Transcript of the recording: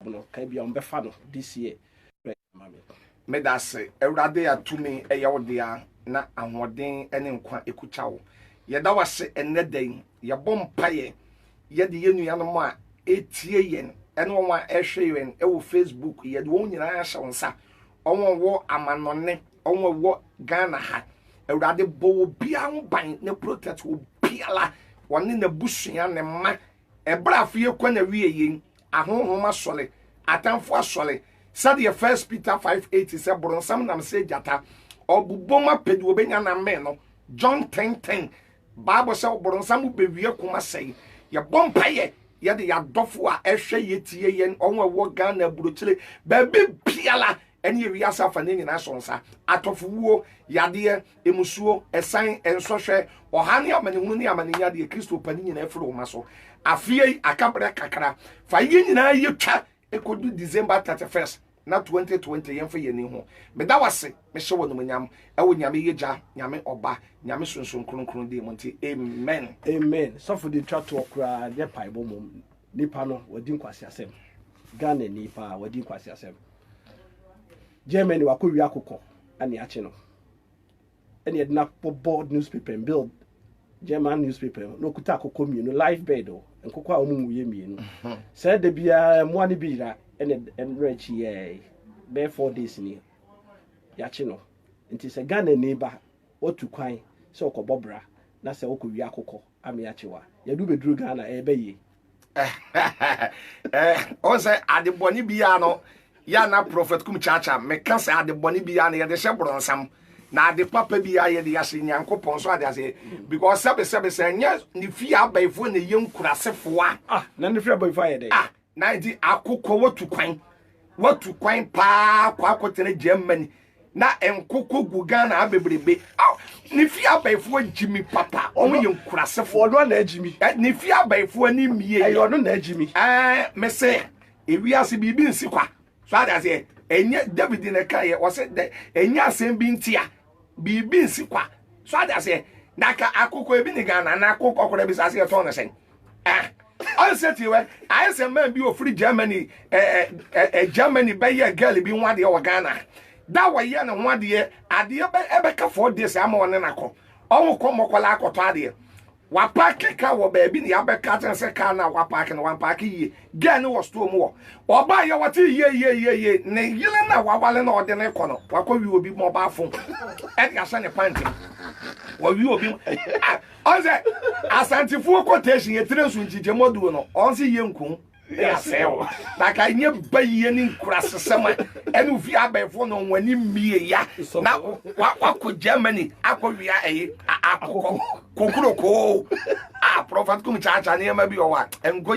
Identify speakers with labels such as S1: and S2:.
S1: no ka bia ɔmbɛfa no this year bɛ ma me.
S2: Medase Awurade a tumi yɛ wo dea na ahoɔden ne nkwa ɛkukya wo. Yɛda wo ase ɛnnɛ da yi, yɛbɔ mpaeɛ yɛde yɛn nuanom a ɛretie yɛn ɛne wɔn a ɛrehwɛ yɛn wɔ Facebook yɛde wɔn nyinaa ahyɛ wo nsa. Wɔn wɔ amanɔne, wɔn wɔ Ghana ha. Awurade bɔ obiara ho ban na protect obiara, wɔne n'abusua, ne mma, Ɛberɛ a afeɛ kɔ n'awieɛ yei, ahonhom asɔre, atamfo asɔre, sɛdeɛ First Peter 5:8 sɛ, Boronsam nam sɛ gyata, ɔbobom apɛ deɛ ɔbɛnya na ammɛn no, John 10:10. Bible sɛ ɔboronsam bɛwie ko asɛe. Yɛbɔ mpaeɛ yɛde yɛn adɔfo a ɛhwɛ yɛtie yɛn, wɔn a ɛwɔ Ghana aburokyire, baabi biara, ɛne wiase afanu nyinaa so nsa, atɔfowuo, yadeɛ, mmusuo, ɛsan, nsɔhwɛ, ɔhaw ne amanehunu ne amanenyia deɛ Kristo pɛ no nyinaa firi wo mma so. Afeɛ yi aka berɛ kakra, fa yei nyinaa yɛ twa ɛkɔdu December 31st na 2020 yɛmfa yɛn ani ho. Meda wo ase, mehyɛ wo animuonyam ɛwɔ Nyame yɛ Gya, Nyame Ɔba, Nyame Sunsum Kronkron din mu nti, amen. Amen sɔfo de
S1: twa toɔ koraa nyɛ paebɔ mmom nipa no wadi nkwaseasɛm Ghanani paa wadi nkwaseasɛm. Germany wakɔ wia kokɔ ɛne akye no ɛne ɛde no abɔbɔ newspaper mu build German newspaper mu na okuta akokɔ mmienu live bird o nkokɔ a wɔn mu yɛ mmienu sɛ ɛde biara mmoa no bi yira ɛne ɛno akyi yɛɛ bɛyɛ four days ni yakye no nti sɛ Ghana ni ba wɔtu kwan sɛ ɔkɔbɔ bra na sɛ ɔkɔ wia akokɔ ame akyewa yɛde wobɛduru ghana ɛyɛ bɛ yie
S2: ɔn sɛ adebɔne biara no yɛ na prɔfɛt kum kyakya meka sɛ adebɔne biara no yɛde hyɛ borɔnsam na ade papa biara yɛde yɛahyɛ nyankopɔn so ade ase because sɛbesɛbe sɛ ɛnyɛ ne fie abaefoɔ na ɛyɛ nkurasefoɔ a ah, na ne fie
S1: abaefoɔ ayɛ dɛ ah, Na nti akokɔ
S2: watu kwan watu kwan paa kɔ akɔtena Germany na nkokɔ gu Ghana ha bebrebe. Aw ne fie abɛɛfoɔ gyimi papa wɔn yɛ nkurasefo. Ɔno ana agyimi. Ɛ
S1: ne fie abɛɛfoɔ
S2: ni mmie. Ɛyɛ ɔno na agyimi.
S1: Ɛɛ mese
S2: ewiase biribi nsi kwa. so ade aseɛ ɛnyɛ david na ɛka yɛ ɔsɛ dɛ ɛnyɛ asɛm bi ntia biribi nsi kwa so ade aseɛ na ka akokɔ ebi ne ghana na akokɔ kora bi sɛ aseɛ tɔn no sɛn ah ɔnsɛ tie wɛ ayɛ sɛ man bi ofiri germany ɛɛ ɛɛ germany bɛyɛ girl bi ho adeɛ wɔ ghana da wɔyɛ ne ho adeɛ adeɛ bɛ ɛbɛka fɔɔ deɛ sɛ ama ɔne nakɔ ɔho kɔ mmɔkɔla akɔtɔ adeɛ Wapaake car wɔ baabi na yɛabɛka akyerɛ no sɛ car no a wapaake no, wampaake yie. Girl no wɔ store mu hɔ. Ɔbaeɛ wɔtee yeieieiei. Ne yere no a waware no a ɔde no rekɔ no, wakɔwe obi mobile phone de ahyɛ ne pant mu. Wawe obi. Ah, ɔn sɛ Asantefoɔ quotation, yɛtire nso nkyekyɛmu aduro no, ɔn se yɛnku. ne asɛe wo na ka nyɛ bayie ne nkurasesɛm a ɛne ofi abɛɛfoɔ na wɔn ani mmie ya na wakɔ germany akɔwea ɛyi akokɔ kokurokoo a prɔfɛt kum kyaakyaa nneɛma bi ɔwa nkɔ